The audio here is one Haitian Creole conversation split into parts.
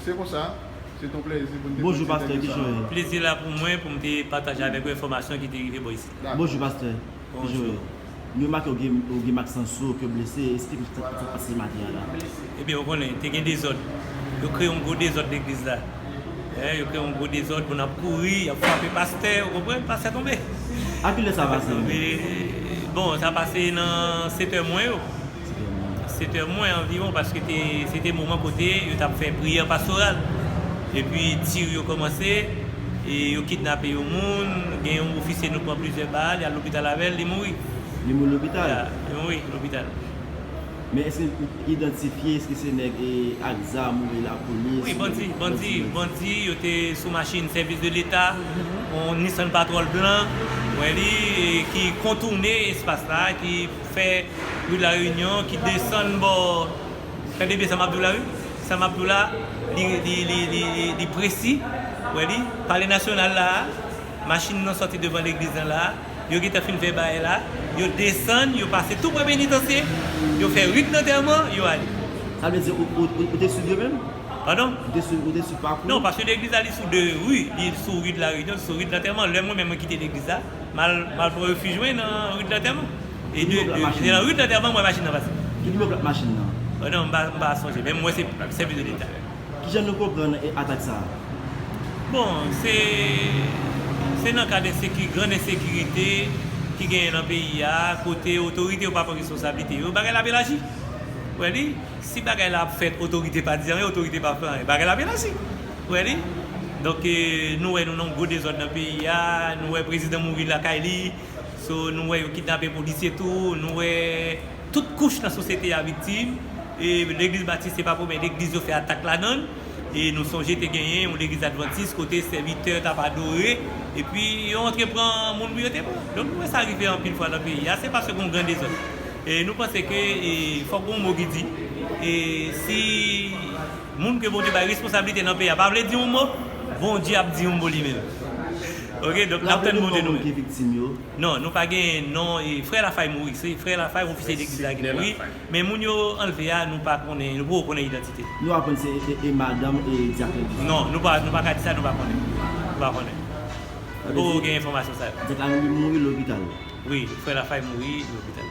Se konsa, se ton plèzi pou n te pote tèm sa a nou. Plezi la pou mwen pou m te pataje avèk ou enfòmasyon ki te rive bò isit. Bonjou pastè Joel. Nou remake ou gen mak san sou ou ke w blese. Esplike nou sa k te pase maten an la. Ebyen ou konnen, te gen dezòd. Yo kreye yon gwo dezòd legliz la. Yo kreye yon gwo dezòd, moun ap kouri, y ap frape pastè, ou konprann, pastè tonbe. A ki lè sa pase? Bon, sa pase nan setè mwen yo. Setè mwen anviwon paske se te moman kote yo t ap fè priyè pastoral. Epi tir yo kòmanse e yo kidnape yon moun. Gen yon ofisye nou pran plizyè bal, y al lopital avè l, li mouri. Li mouri lopital? Ya, li mouri lopital. Men èske ou idantifye, èske se nèg ak zam oubyen lapolis? Wi, bandi, bandi, bandi. Yo te sou machin sèvis de leta, yon Nissan Patrol blan, ou wè li, ki kontoune espas la, ki. fè wout la Reunion ki desann bò tande byen sa map diw la wi sa map diw la li presi ou wè li palè nasyonal la machin nan sòti devan legliz nan la yo gentan fin fè baye la yo desann yo pase tou pre penitansye yo fè rit lantèman yo ale. Sa vle di ou te swiv yo menm? Padon? Ou te swiv pakou yo? Non paske legliz la li sou 2 ri li sou ri de la Reunion li sou ri de lantèman lè mwen menm mwen kite legliz la Mal mal fò refij mwen nan rout lantèman e de e nan rout lantèman m wè machin nan pase. Ki dlo plak machin nan? O non m pa m pa sonje men m wè se sèvis de leta. Kijan nou konprann atak sa a? Bon se se nan kad ensekiri grand ensekirite ki genyen nan peyi a kote otorite yo pa pran responsablite yo bagay la ap elaji ou wè li si bagay la ap fèt otorite pa di anyen otorite pa fè anyen bagay la ap elaji. Wè li? Donk nou wè nou nan yon gwo dezòd nan peyi a, nou wè prezidan mouri lakay li, so nou wè yo kidnape polisye tou, nou wè tout kouch nan sosyete a viktim, e legliz batis se pa premyè legliz yo fè atak ladan l, e nou sonje te genyen yon legliz advantis kote sèvitè tap adore epi yo antre pran moun pou yo te pran. Donk nou wè sa rive anpil fwa nan peyi a, se paske gen yon gran dezòd. E nou panse ke fòk gen yon mo ki di, e si. Moun ke Bondye bay responsablite nan peyi a pa vle di yon mo, Bondye ap di yon mo li menm. Ok donk nap tann Bondye nou menm. Non nou pa gen non frè lafay mouri se frè lafay ofisye legliz la ki mouri men moun yo anlve a nou pa konnen nou poko konnen idantitel. Nou aprann se e madanm e dyak legliz la. Non nou pa nou paka di sa nou pa konnen nou pa konnen nou poko gen enfòmasyon sa yo. Dyak la mouri lopital. Wi frè lafay mouri lopital.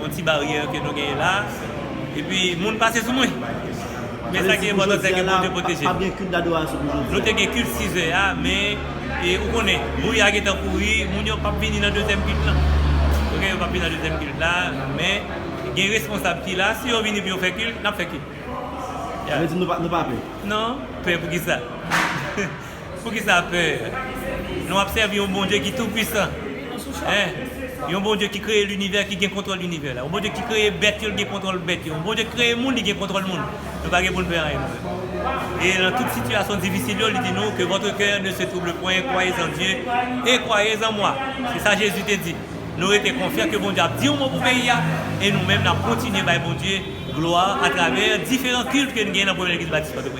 Yon ti baryè ke nou genyen la. Epi moun pase sou mwen. Men sa ki enpòtan sè ke Bondye pwoteje nou. Nou te gen kilt 6 zè a, men ou konnen, bouyi a gentan kouri, moun yo pap vini nan dezyèm kilt lan. Ok, yo pap vini nan dezyèm kilt la, men gen responsab ki la, si yo vini pou yo fè kilt, n ap fè kilt. Sa vle di nou pa pè? Non, pè poukisa? Poukisa pè? Nou ap sèvi yon Bondye ki tou pwisan. Yon Bondye ki kreye linivè, ki gen kontwòl linivè la. Yon Bondye ki kreye bèt yo, li gen kontwòl bèt yo. Yon Bondye ki kreye moun, li gen kontwòl moun. Nou pa gen pou n pè anyen nou menm. E nan tout sitiyasyon difisil yo, li di nou, ke vòtre kè ne se twouble pwen, kwayez an Dye, e kwayez an mwa. Se sa Jezi te di. Nou rete konfyan ke Bondye ap di yon mo pou peyi a, e nou menm n ap kontinye bay Bondye glwa atravè diferan kilt ke n gen nan Premye Legliz Batis Pòtoprens.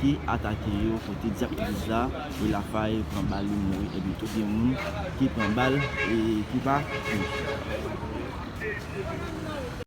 ki atake yo kote Diak Moyiz la e Lafay pran bal yo mouri epi tou gen moun ki pran bal e ki pa mouri.